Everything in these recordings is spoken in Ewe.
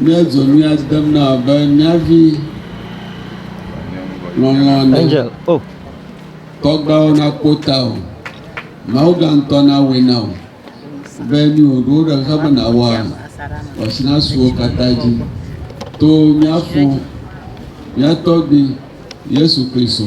Míedzo mía dem na wò be míavi lɔlɔ̃a nɛ. Angel, oh, Tɔgbeawo nakpɔ tawò. Mawuga ŋutɔ nawɔe na wò be nu yi wòɖo ɖe ŋuti be nàwɔa, wò asi nasu wo katã dzi. To mía fo, mía tɔgbui, Yesu Kristo,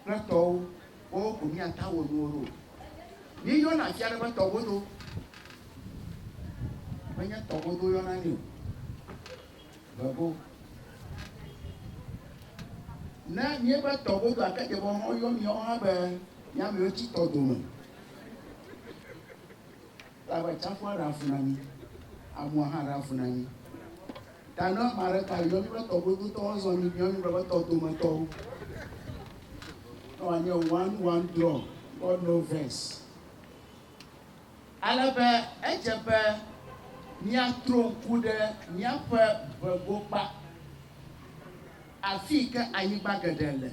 kple tɔwo, woawo ko míate awɔ nuwo ɖo. Míeyɔna afi aɖe be tɔgodo. Menye tɔgodo woyɔna nɛ o. Vego. Ne míebe tɔgodo ake dze be woyɔ míawo hã be mía amewo tsi tɔ dome. Labe tsaƒua ɖa avu na mí, amua hã ɖa avu na mí. Ta ne ame aɖe ka yɔ mí be tɔ godotɔwo zɔ mí biɔ mí be be tɔ dometɔwo. Ne wòanye one one draw God know verse. Ale be edze be míatro ŋku ɖe míaƒe ʋegokpa, afii ke anyigba geɖe le.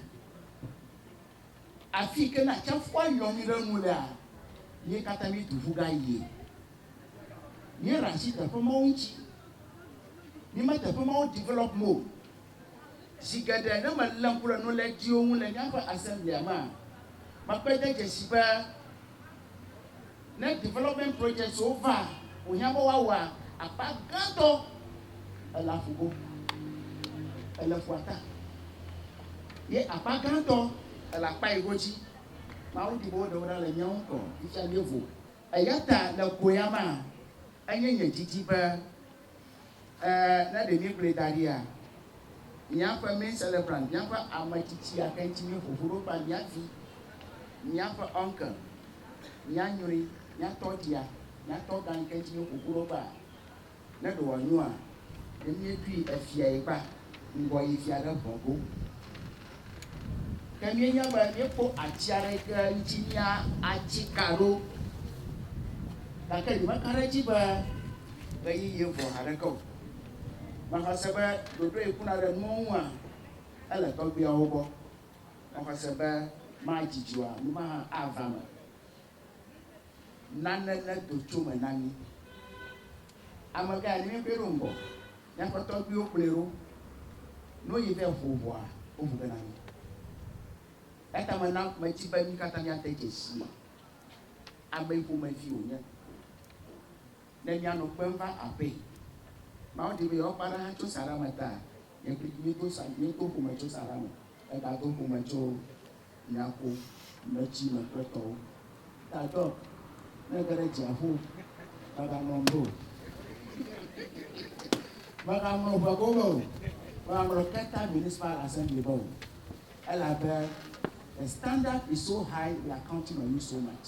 Afi yi ke ne atsiaƒua yɔ mí ɖe enu lea, mí katã míetu ƒu gayie. Míeɖe asi teƒe mawo ŋuti. Míeme teƒe mawo develop me o. Zi geɖe ne melé ŋku ɖe nulédyiwo ŋu le míaƒe Assembly-a mea, mekpɔe de dzesi be, Ne development projects wo va, wò hiã be woa wɔ akpa gãtɔ ele aƒu go, ele ƒua ta. Ye akpa gãtɔ ele akpa yi go dzi. Mawu di be wo ɖe wo ɖa le nye ŋkɔ fifia mievo. Eyata le go ya mea, enye nye didi be. Ɛɛ, ne ɖe míekplɔe da ɖia, míaƒe main celebrant, míaƒe ame tsitsi gake ŋuti míeƒo ƒu ɖo kple mía vi, míaƒe uncle, mía nyɔe, mía tɔ dzia, mía tɔ gã yi ke ŋuti míeƒo ƒu ɖo kpea, ne ɖe wòanyoa, ne míeɖoe efiae kpea, ŋgɔ yi fia ɖe ŋe go. Ne míenya be míekpɔ ati aɖe yi ke ŋuti míatsi ka ɖo, gake nyemeka ɖe edzi be ɣeyiɣie vɔ haɖeke o, mexa se be ɖoɖoe kuna ɖe nuwo ŋua, ele tɔgbuiawo gbɔ. Mexa se be madzi dua, nu ma hã ava eme. nane nedo tso me na mí. Amekae ne míexɔe ɖo ŋgɔ? Míaƒe tɔgbuiwo kplɔe ɖo. Ne woyi ɖe ʋu ʋɔa, woʋu ge na mí. Eya ta mena medi be mí katã míade dzesii ame ƒomevi wònye ne míanɔ kpem va aƒee. Mawu di be yewoakpe aɖe hã tso saɖa me ta. Nye kplii míedo sa, míedo ƒome tso saɖa me hegado ƒome tso Miaƒo me tsi me ƒe tɔwo. Ta dɔk ne ge ɖe dziaƒo mega mlɔ ŋu o mega mlɔ ŋua go me o mega mlɔ keta municipal assembly me o elabe the standard is so high they are counting on you so much.